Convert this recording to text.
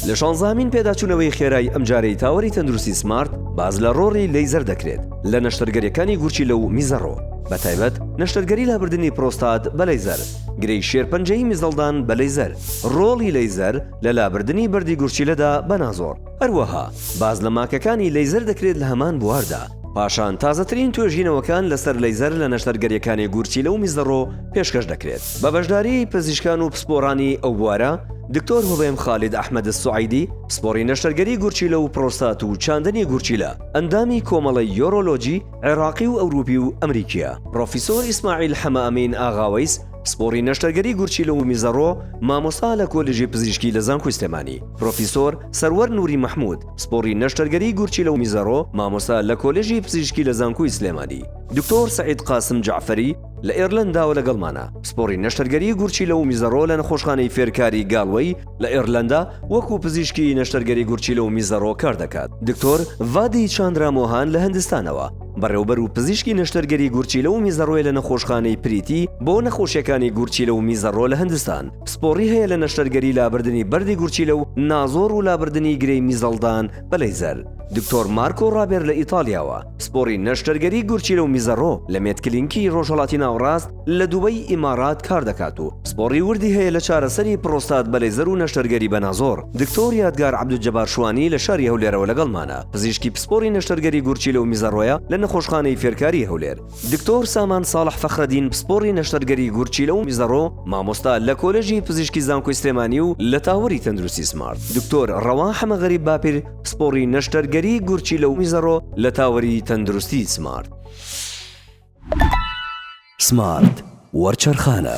لە شانزامین پێداچوونەوەی خێرای ئەمجارەی تاوەری تەندروستی سمارت باز لە ڕۆڕی لەیزەر دەکرێت لە نەشتەرگەریەکانی گورچی لە و میزەڕۆ بە تایبەت نەشتەرگەری لابردنی پرۆستات بە لەیزەر گرەی شێرپەنجەی میزەڵدان بە لەیزەر ڕۆڵی لەیزەر لە لابردنی بەردی گورچیلەدا بە نازۆر هەروەها باس لە ماکەکانی لەیزەر دەکرێت لە هەمان بواردا، پاشان تازەترین توێژینەوەکان لەسەر لەیزەر لە نەشتەرگەریەکانی گورچیلە و میزەڕۆ پێشکەش دەکرێت بە بەشداری پزیشکان و پسپۆڕانی ئەو بوارە دکتۆر هوبێم خالید ئەحمەد السوعیدی پسپۆڕی نەشتەرگەری گورچیلە و پرۆستات و چاندنی گورچیلە ئەندامی کۆمەڵەی یۆرۆلۆجی عێراقی و ئەوروپی و ئەمریکیە پڕۆفیسۆر ئیسماعیل حەمە ئەمین ئاغاوەیس پسپۆڕی نەشتەرگەری گورچیلە و میزەڕۆ، مامۆستا لە کۆلێژی پزیشکی لە زانکۆی سلێمانی، پرۆفیسۆر، سەروەر نوری مەحمود، پسپۆڕی نەشتەرگەری گورچیلە و میزەڕۆ، مامۆستا لە کۆلێژی پزیشکی لە زانکۆی سلێمانی، دکتۆر سەعید قاسم جەعفەری، لە ئێرلەنداوە لەگەڵمانە، پسپۆڕی نەشتەرگەری گورچیلە و میزەڕۆ لە نەخۆشخانەی فێرکاری گالوەی لە ئێرلەندا وەکو پزیشکی نەشتەرگەری گورچیلە و میزەڕۆ کاردەکات، دکتۆر، ڤادی چاندرا مۆهان، لە هندستانەوە، بەڕێوبەر و پزیشکی نەشتەرگەری گورچیلە و میزەڕۆیە لە نەخۆشخانەی پریتی بۆ نەخۆشیەکانی گورچیلە و میزەڕۆ لە هندستان پسپۆڕی هەیە لە نەشتەرگەری لابردنی بەردی گورچیلە و نازۆڕ و لابردنی گرێی میزەڵدان بە لەیزەر دکتۆر مارکۆ ڕابێر لە ئیتالیاوە پسپۆڕی نەشتەرگەری گورچیلە و میزەڕۆ لە مێدکلینکی ڕۆژهەڵاتی ناوەڕاست لە دوبەی ئیمارات کار دەکات و پسپۆڕی وردی هەیە لە چارەسەری پڕۆستات بە لەیزەر و نەشتەرگەری بە نازۆر. دکتۆر یادگار عەبدولجەبار شوانی لە شاری هەولێرەوە لەگەڵمانە، پزیشکی پسپۆڕی نەشتەرگەری گورچیلە و میزەڕۆیە لە نەخۆشخانەی فێرکاریی هەولێر. دکتۆر سامان ساڵح فەخرەدین پسپۆڕی نەشتەرگەری گورچیلە و میزەڕۆ، مامۆستا لە کۆلێژی پزیشکی زانکۆی سلێمانی و لە تاوەری تەندروستی سمارت. دکتۆر ڕەوا حەمەغەریب باپیر پسپۆڕی نەشتەرگەری گورچیلە و میزەڕۆ لە تاوەری تەندروستی سمارت. سمارت وەرچەرخانە.